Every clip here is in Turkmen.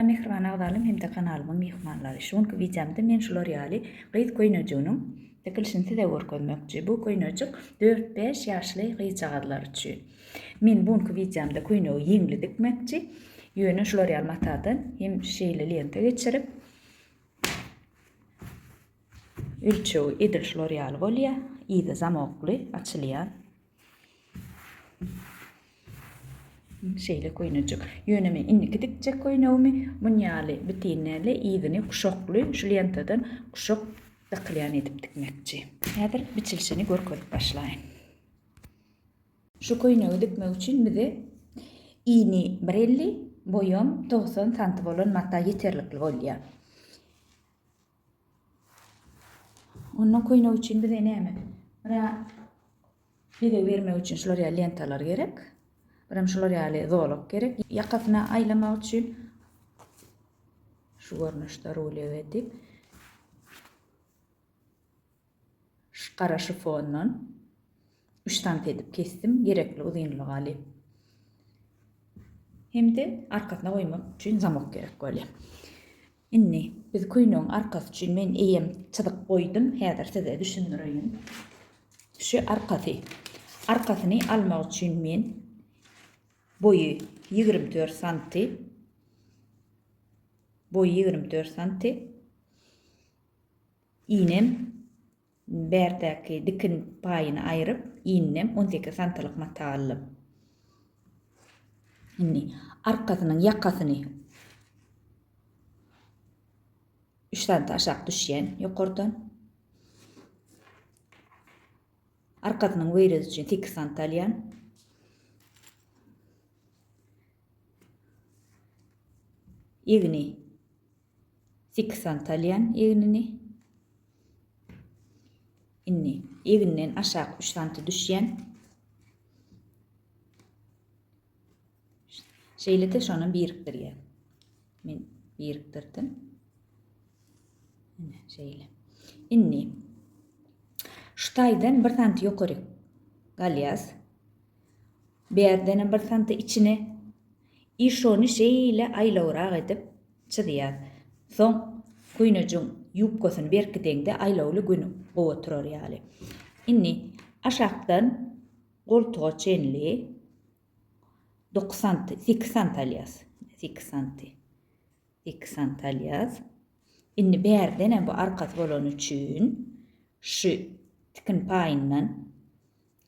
Mähriban agzalaryň hem-de kanalymyň myhmanlary, şu günki wideomda men şular ýaly gyz köýnejiginiň tikilişini size görkezmekçi. Bu köýnejik dört-bäş ýaşly gyzjagazlar üçin. Men bu günki wideomda köýnegi ýeňli dikmekçi. Ýöne şular ýaly matadan hem şeýle lenta geçirip ölçegi edil şular ýaly bolýar. Yzy zamokly açylýan Şeýle köýnejik. Ýöne men indiki dikjek köýnegimi muny ýaly bitin däl-de, yzyny kuşakly şu lentadan kuşak dakylýan edip dikmekçi. Häzir biçilişini görkezip başlaýyn. Şu köýnegi dikmek üçin bize ini bir elli, boýam togsan santy bolan mata ýeterlikli bolýar. Ondan köýnek üçin bize näme? Bura bezeg bermek üçin şular ýaly lentalar gerek. Biram şular ýaly zolak gerek. Ýakasyna aýlamak üçin şu görnüşde rulýow edip Şu gara şifondan üç sm edip kesdim, gerekli uzynlygy alyp. Hem-de arkasyna goýmak üçin zamok gerek bolýar. Indi biz köýnegiň arkasy üçin men eýýäm çyzyk goýdum, häzir size düşündireýin. Şu arkasy. Arkasyny almak üçin men boýy ýigrimi dört santy, boýy ýigrimi dört santy, Iýnem bärtäki dikin paýyny aýryp, iýninem on sekiz santylyk mata aldym. Indi arkasynyň ýakasyny üç santa aşak düşýän ýokardan arkasynyň weýredi üçin sekiz santa alýan. Egni Fiksant alýan egnini. Indi egninden aşak 3 santy düşýän. Şeýle-de şony birikdirýän. Men birikdirdim. Ine şeýle. Indi şu taýdan 1 santy ýokary galýas. Bärdenem bir santa içine i şony şeýle aýlawrak edip çyzýar. Soň köýnejiň ýubkasyny berkideňde aýlawly gün gowa turar ýaly. Indi aşakdan goltuga çenli dokuz santy, sekiz santy alýas. Sekiz santy. Sekiz santy alýas. Indi bärdenem bu arkasy bolany üçin şu tikin paýyndan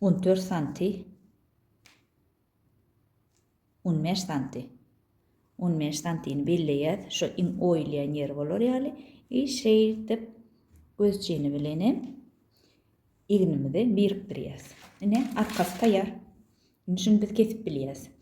On dört santi On bäş santi On bäş santini belleýäs, şo iň oýulýan ýeri bolar ýaly i şeýdip gözjini bilenem egnimizi birikdirýäs. Ine, arkasy taýýar. Indi şuny biz kesip bilýäs.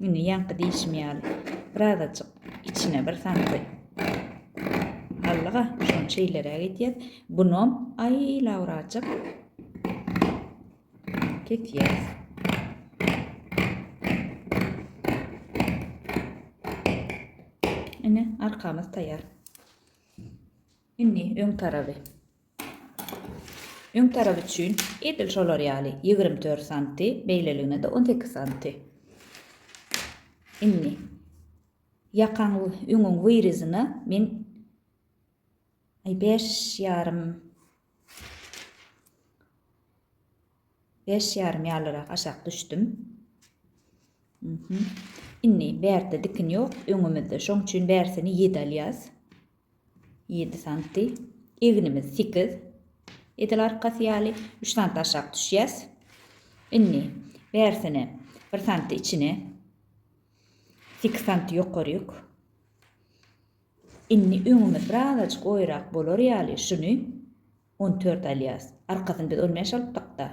Indi ýaňky diýşim ýaly, birazajyk içine bir sandy. Allyga, şonça ileräk edýär. Bunom, aý, lawrajyk. Kesýär. Ine, arkamyz taýýar. Indi öň tarapy. Öň tarap üçin edil şolar ýaly ýigrimi dört santy, beýleligine-de on sekiz santy. Indi ýakaň öňüň wyryzyna men bäş ýarym Bäş ýarym ýalyrak aşak düşdüm. Indi bärde dikin ýok, öňümizde. Şoň üçin bärsini ýedi alýas. Ýedi santy. Egnimiz sekiz. Edil arkasy ýaly. Üç santy aşak düşýäs. Indi bärsini bir santy içine. Sekiz santy ýokaryk. Indi öňümiz birazajyk oýrak bolar ýaly şuny On dört alýas. Arkasyny biz on bäş alypdyk-da.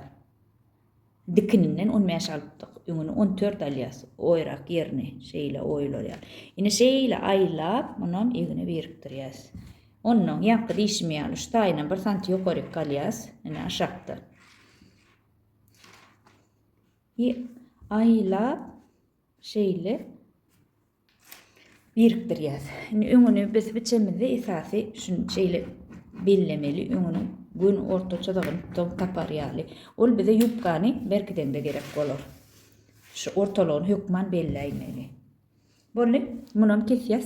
Dikininden on bäş alypdyk. Öňüni on dört alýas. Oýrak ýerini şeýle oýlar ýaly. Indi şeýle aýlap, munam egine birikdirýäs. Onnoň ýaňky diýşim ýaly şu taýynam bir santy ýokaryk galýas. Ine aşakda. I aýlap şeýle birikdirýäs. Indi öňüni biz biçemizde esasy şunu şeýle bellemeli, öňüni gün orta çyzygyny tutuň tapar ýaly. Ol bize ýubkany berkidende gerek bolar. Şu ortalygyny hökman belläýmeli. Boldy, munam kesýäs.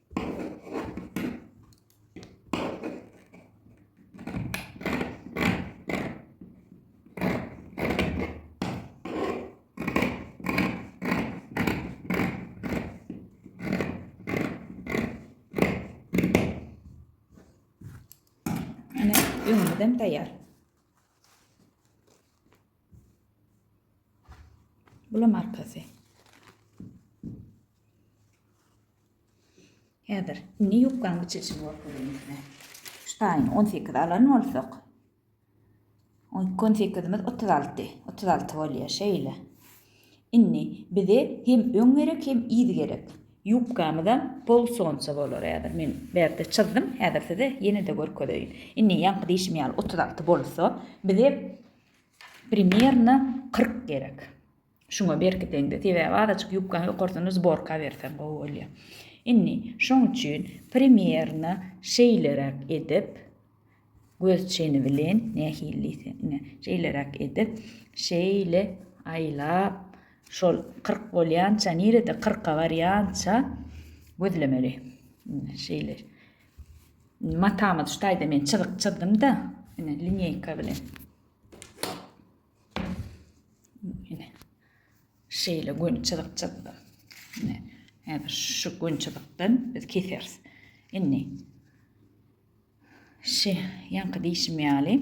Öňüňizden taýýar. Bulam arkasy. Häzir indi ýubkanyň biçilişini görkezeýin size. Şu taýyny on sekiz alan bolsak, on iki on sekizimiz otuz alty, otuz alty bolýar. Şeýle. Indi bize hem öň gerek, hem yz gerek. Ýubkamyzam pol sonça bolar. Häzir men bärde çyzdym. Häzir size ýene-de görkezeýin. Indi ýaňky diýşim ýaly otuz alty bolsa, bize primerno kyrk gerek. Şuňa berkiseňde, sebäbi azajyk ýubkaň ýokarsyny zborka berseň gowy bolýar. Indi, şoň üçin primerno şeýleräk edip, göz çeni bilen, nähili diýse, ine, şeýleräk edip, şeýle aýlap, şol kyrk bolýança, nirede kyrka barýança gözlemeli. Ine, şeýle. Matamyz şu taýda men çyzyk çyzdym-da, ine, linýeýka bilen. Ine. Şeýle göni çyzyk çyzdy. Ine. Häzir şu göni çyzykdan biz keseris. Indi şi ýaňky diýşim ýaly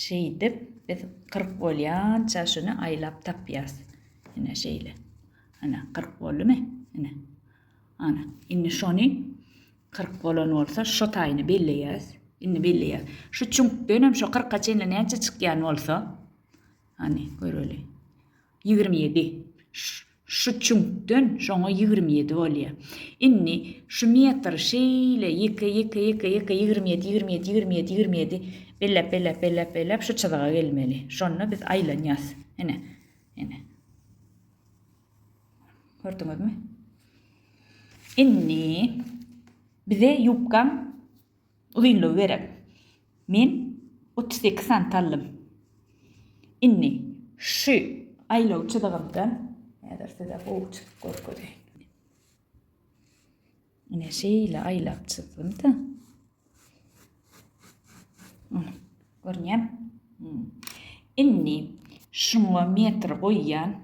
şeýdip biz 40 bolýança şuny aýlap tapýas. Ine şeýle. Ana 40 boldumy? Ine. Ana, indi şony Kyrk bolan bolsa şo taýyny belleýäs. Indi belleýäs. Şu çüňkden hem şo kyrka çenli näçe çykýan bolsa. Hany göreli. Ýigrimi ýedi. Şu çüňkden şoňa ýigrimi ýedi bolýar. Indi şu metri şeýle ýeke ýeke ýeke ýeke ýigrimi ýedi ýigrimi ýedi ýigrimi ýedi ýigrimi ýedi belläp belläp belläp belläp şu çyzyga gelmeli. Şonda biz aýlanýas. Ine. Ine. Gördüňizmi? Indi bize ýubkaň uzynlygy gerek. Men 38 sant aldym. Indi şu aýlaw çyzygymdan häzir size gowy çykyp görkezeýin. Ine şeýle aýlap çyzdym-da. Görünýär. Indi şuňa metr goýýan.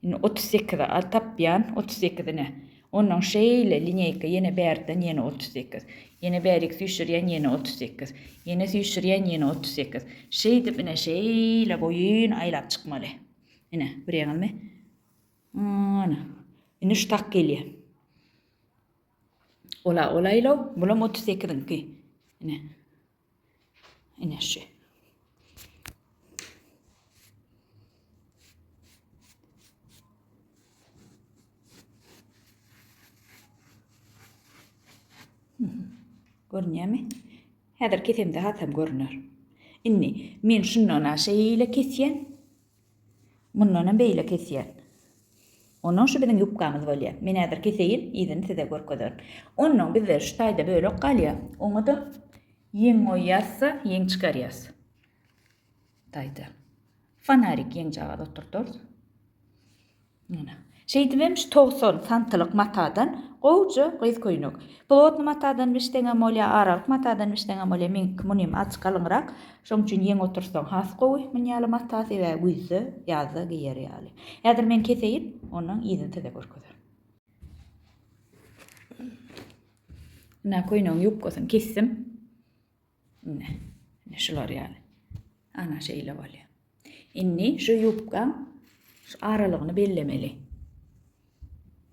Indi 38-e al tapýan, 38-ine. Ondan şeýle lineýka ýene bärden ýene 38. Ýene bärik süýşürýän ýene 38. Ýene süýşürýän ýene 38. Şeýdip ine şeýle boýun aýlap çykmaly. Ine, görýäňizmi? Ana, indi şu tak gelýär. Ola, ola ilaw, bulam otuz sekiziňki. Ine. Ine şu. Görünýärmi? Häzir kesemde hasam görner. Indi men şundan aşa ile kesýän. Mundanam beýle kesýän. Onnoň şu biziň ýubkamyz bolýar. Men häzir keseýin, yzyny size görkezerin. Onnoň bizde şu taýda bölek galýar. Oňa-da ýeň goýýas-da, ýeň çykarýas. Taýda. Fonarik ýeňjagaz oturdarys. Şeýdibem şu togsan santylyk matadan gowja gyz köýnek. Plotny matadan biçseňem bolýa, aralyk matadan biçseňem bolýa, meňki munym az galyňrak. Şoň üçin ýeň oturtsaň has gowy mun ýaly mata sebäbi güýzde, ýazda geýer ýaly. Häzir men keseýin, ondan yzyny size görkezerin. Köýnegiň ýubkasyny kesdim. Indi, indi şular ýaly. Ana şeýle bolýar. Indi şu ýubka şu aralygyny bellemeli.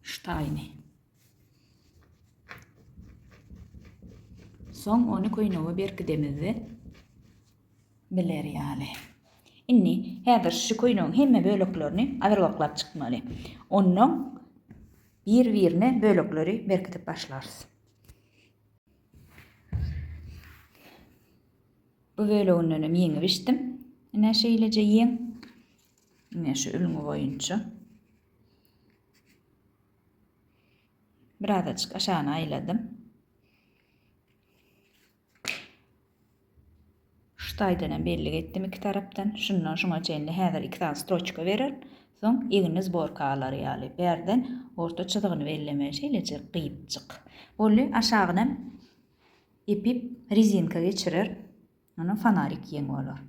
Şu taýyny. Soň ony köýnege berkidemizde biler ýaly. Indi häzir şu köýnegiň hemme böleklerini azyrgaklap çykmaly. Ondan bir-birine bölekleri berkidip başlarys. Bu böleginden hem ýeňip içdim. Ine şeýleje ýeň. Ine şu ülňi boýunça. Biraz açyk aşagyna aýladym. Şu taýdanam bellik etdim iki tarapdan. Şundan şuňa çenli häzir iki sany stroçka berer. Soň egni zborka alar ýaly. Bärden orta çyzygyny belleme. Şeýlejek gyýypjyk. Boldy. Aşagynam epip rezinka geçirer. Onam fonarik ýeň bolar.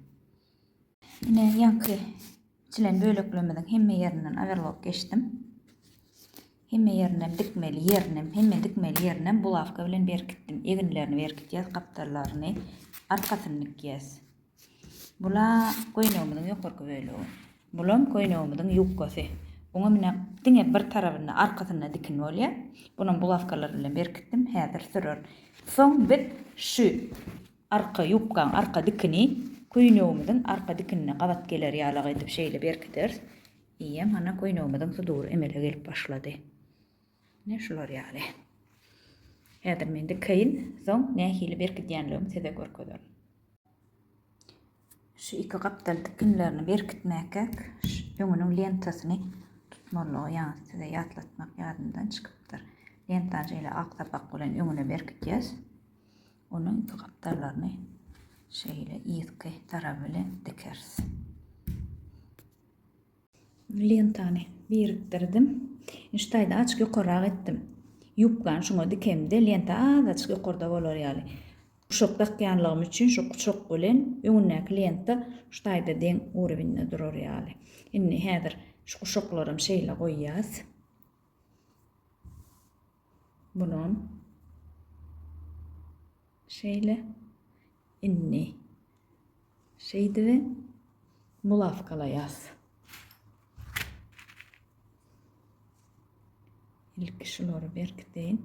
Ine, ýaňky biçilen böleklerimiziň hemme ýerinden overlock geçdim. Hemme ýerinem dikmeli ýerinem, hemme dikmeli ýerinem bulawka bilen berkitdim. Eginlerini berkitýäs, gapdallaryny, arkasyny dikýäs. Bula köýnegimiziň ýokarky bölegi. Bulam köýnegimiziň ýubkasy. Oňa mine diňe bir tarabynda, arkasynda dikin bolýar. Bunam bulawkalar bilen berkitdim, häzir sürer. Soň biz şu Arka ýubkaň arka dikini köýnegimiziň arka dikinine gabat geler ýalak edip şeýle berkideris. Eýýäm hana köýnegimiziň sudury emele gelip başlady. Ine şular ýaly. Häzir men dikeýin, soň nähili berkidýänligimi size görkezerin. Şu iki gapdal dikinlerini berkitmäkäk öňüniň lentasyny tutmalydygy ýaňy size ýatlatmak ýadymdan çykypdyr. Lentany şeýle ak sapak bilen öňüne berkidýäs. Onuň iki gapdallaryny şeýle yzky tarap bilen dikeris. Lentany birikdirdim. Şu taýda açyk ýokarrak etdim. Ýubkany şuňa dikemde lenta azajyk ýokarda bolar ýaly. Guşak dakýanlygym üçin şu guşak bilen öňündäki lenta şu taýda deň urownda durar ýaly. Indi häzir şu guşaklaram şeýle goýýas. Bulam şeýle. Indi şeýdibi bulawkalaýas. Ilki şulary berkideýin.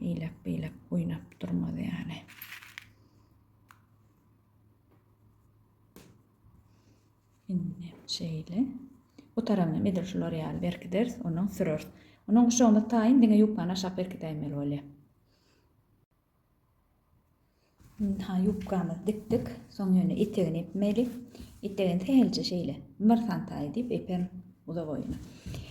Eýlek-beýlek oýnap durmaz ýaly. Indi şeýle. Bu tarabynam edil şular ýaly berkideris, ondan süreris. Ondan guşagymyz taýyn, diňe ýubkany aşak berkidäýmeli bolýar. Ynha, ýubkamyzy dikdik. Soň ýöne etegini epmeli. Etegini sähelçe şeýle, bir sant aýy diýip eperin uzak oýuna.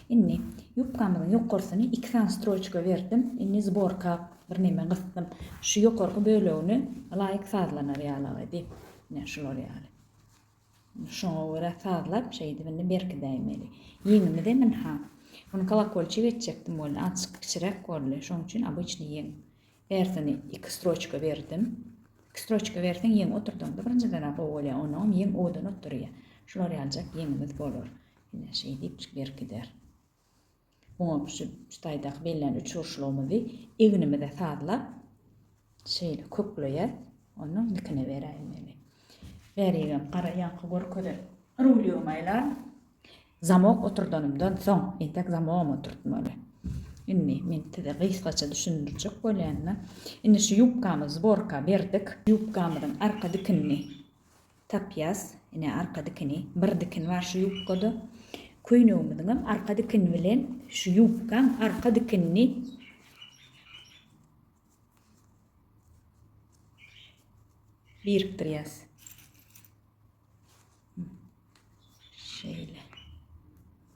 Indi, ýubkamyzyň ýokarsyny iki sany stroçka berdim. Indi zborka birneme gysdym. Şu ýokarky bölegini ylaýyk sazlanar ýalagy edip, ine, şular ýaly. Şoňa görä sazlap şeýdip indi berkidäýmeli. Ýeňimiz em ynha. Muny kolokolçik etjekdim boldy. Azjyk kiçiräk boldy. Şoň üçin obyçnyý ýeň. Bärsini iki stroçka berdim. Iki stroçka berseň ýeň oturdaňda birinjiden-ä gowy bolýar. Onnoňam ýeň gowudan otyrýar. Şular ýaljak ýeňimiz bolar. Ine şeýdipjik berkider. Oňa şu taýdaky bellän üçburçlygymyzy egnimize sazlap, şeýle kökleýäs. Onuň nikini beräýiň meni. Bärigem gara ýaňky görkezen rulýomy aýlan. Zamok oturdanymdan soň, entek zamogam oturtmaly. Indi men size gysgaça düşündirjek bolýan-da. Indi şu ýubkamy zborka berdik. Ýubkamyzyň arka dikinini Tapýas, ine, arka dikini. Bir dikin bar şu ýubkada. Köýnegimiziňem arka dikini bilen şu ýubkaň arka dikinini birikdirýäs. Şeýle.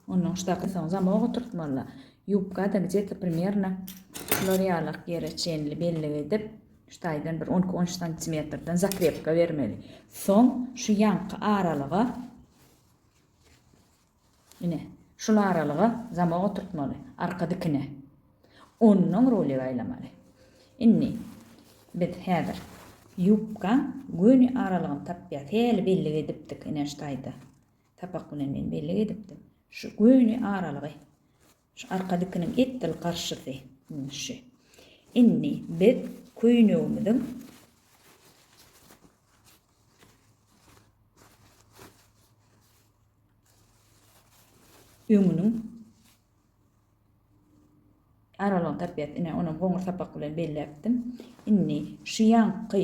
Ondan ştaky soň zamoga oturtmaly. Ýubka-da gdje-t primerno şular ýalak ýere çenli bellik edip, ştaýdan bir on iki, on üç santimetrden zakrepka bermeli. Soň şu ýanky aralyga, ine, şul aralyga zamok oturtmaly, arka dikine. Onnoň ruli gaýlamaly. Indi biz häzir ýubkaň göni aralygyny tapýas. Häli bellik edipdik, ine, ştaýda. Sapak bilen men bellik edipdim. Şu göni aralygy, şu arka dikiniň edil garşysy, indi şu. Indi biz köýnegimiziň öňüniň aralygyny tapýarys. Ine, onam goňur sapak bilen belläpdim. Indi şu ýanky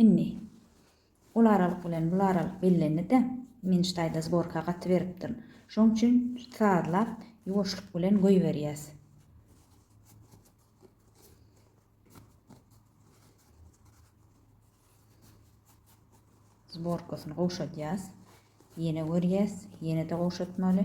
Indi, ol aralyk bilen bul aralyk bellendi-de, men ştaýda zborka gatyberipdirin. Şoň üçin sazlap, ýuwaşlyk bilen goýberýäs. Zborkasyny gowşadýas. Ýene görýäs. Ýene-de gowşatmaly.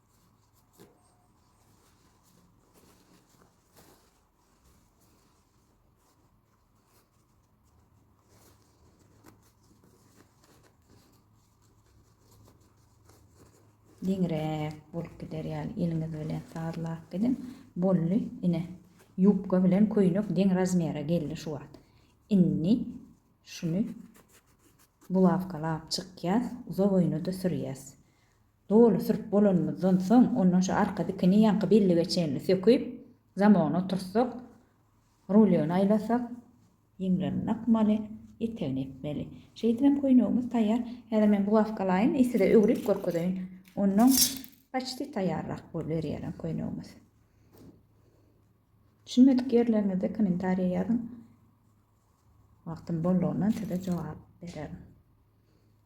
Geňräk bolup gider ýaly eliňiz bilen sazlap gidin. Bolly, ine. Ýubka bilen köýnek deň razmere geldi şu wagt. Indi şuny bulawkalap çykýas, uzak öýne-de sürýäs. Doly sürüp bolanymyzdan soň, ondan şu arka dikini ýaňky bellige çenli söküp, zamogyny oturtsak, rulýony aýlasak, ýeňlerini dakmaly, etegini epmeli. Şeýdip hem köýnegimiz taýýar. Häzir men bugawkalaýyn, size öwrüp görkezeýin. Onnoň paçti taýýarrak boluberýärem köýnegimiz. Düşünmedik ýerleriňizde kommentariýa ýazyň. Wagtym boldugyndan size jogap bererin.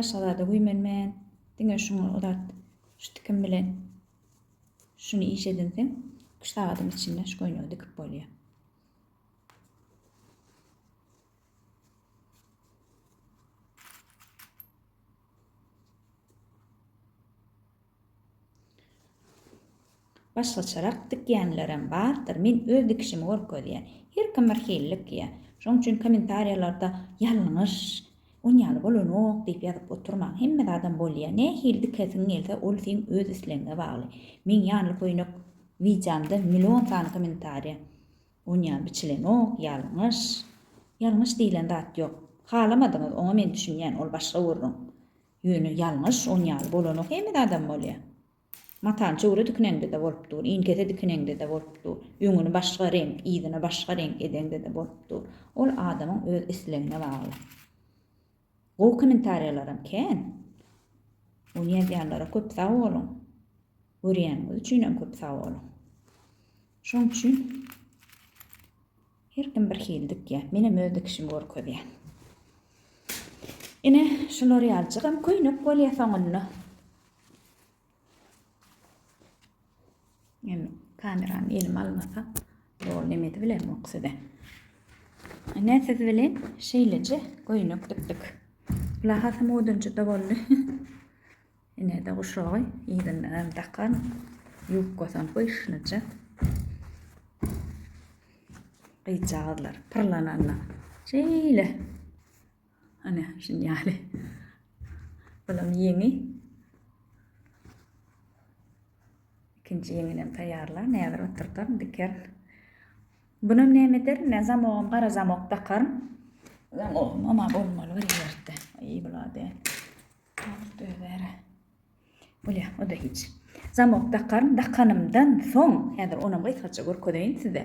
Başga zada güýmenmän, diňe şuňa uzat. Şu tikim bilen şuny iş edinseň, iki-üç sagadyň içinde şu köýnegi dikip bolýar. Başgaçarak dikýänlerem bardyr, men öz dikişimi görkezýän. Her kim bir hili dikýär. Şoň üçin kommentariýalarda ýalňyş, on ýaly bolanok diýip ýazyp oturmaň. Hemme zadam bolýar. Nähili dikesiň gelse ol seň öz islegiňe bagly. Meň ýanly köýnek wideomda million sany kommentariýa Onýam biçilenok, ýalňyş. Ýalňyş diýilen zat ýok. Halamadyňyz, oňa men düşünýän, ol başga gürrüň. Ýöne ýalňyş on ýaly bolanok, hemede adam bolýa. Matany çöwre dikineňde-de bolup dur, iňkese dikineňde-de bolup dur, öňüni başga reňk, yzyny başga reňk edeňde-de bolup dur. Ol adamyň öz islegine bagly. Gowy kommentariýalaram kän. Ony ýazýanlara köp sag boluň. Görýäniňiz üçinem köp sag boluň. Şoň üçin her kim bir hili dikýär. Menem öz dikişimi görkezýän. Ine, şular ýaljygam köýnek bolýar soňunda. Indi kamerany elime almasam, dol nemedi bilen ok size. Ine siz bilen şeýleje göýnek dikdik. Lahasy modunjyda boldy. Ine de guşagy ýerinden hem dakan, ýubkasam pyşnyja. Gyzjagazlar pyrlananda şeýle Hany, şun ýaly. Bulam ýeňi. Ikinji ýeňinem taýýarla, näzir oturdaryn diker. Bunam näme ederin, men zamogam gara zamok dakaryn. Zamogam ama bolmaly bir ýerde. Aý, bulady. Alyp döwere. Bolýa, o da hiç. Zamok dakaryn, dakanymdan soň, häzir onam gysgaça görkezeýin size.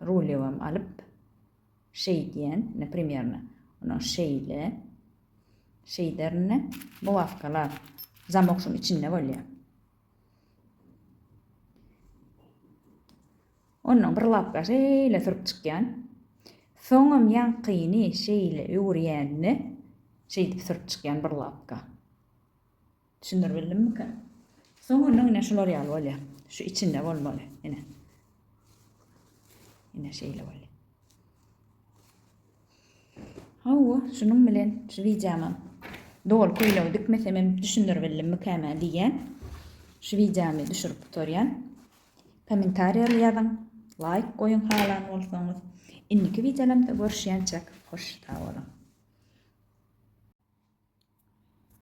Rulewam alyp, şeýdýän, ine, primerno, ondan şeýle, şeýderin, ine, bulawkalar, zamok şuň içinde bolýar. Ondan bir lapka şeýle sürüp çykýan. Soňam ýaňkyny şeýle öwürýänini şeýdip sürüp çykýan bir lapka. Düşündirip bildimmika? Soňundan ine şular ýaly bolýar. Şu içinde bolmaly. Ine. Ine şeýle bolýar. Hawa, şunuň bilen şu wideomam doly köýnegi dikmesem hem düşündirip bildimmika mä diýýän. Şu wideomy düşürip gutarýan. Kommentariýa ýazyň, laýk goýuň halan bolsaňyz. Indiki wideolarymda görüşýänçäk, hoş sag boluň.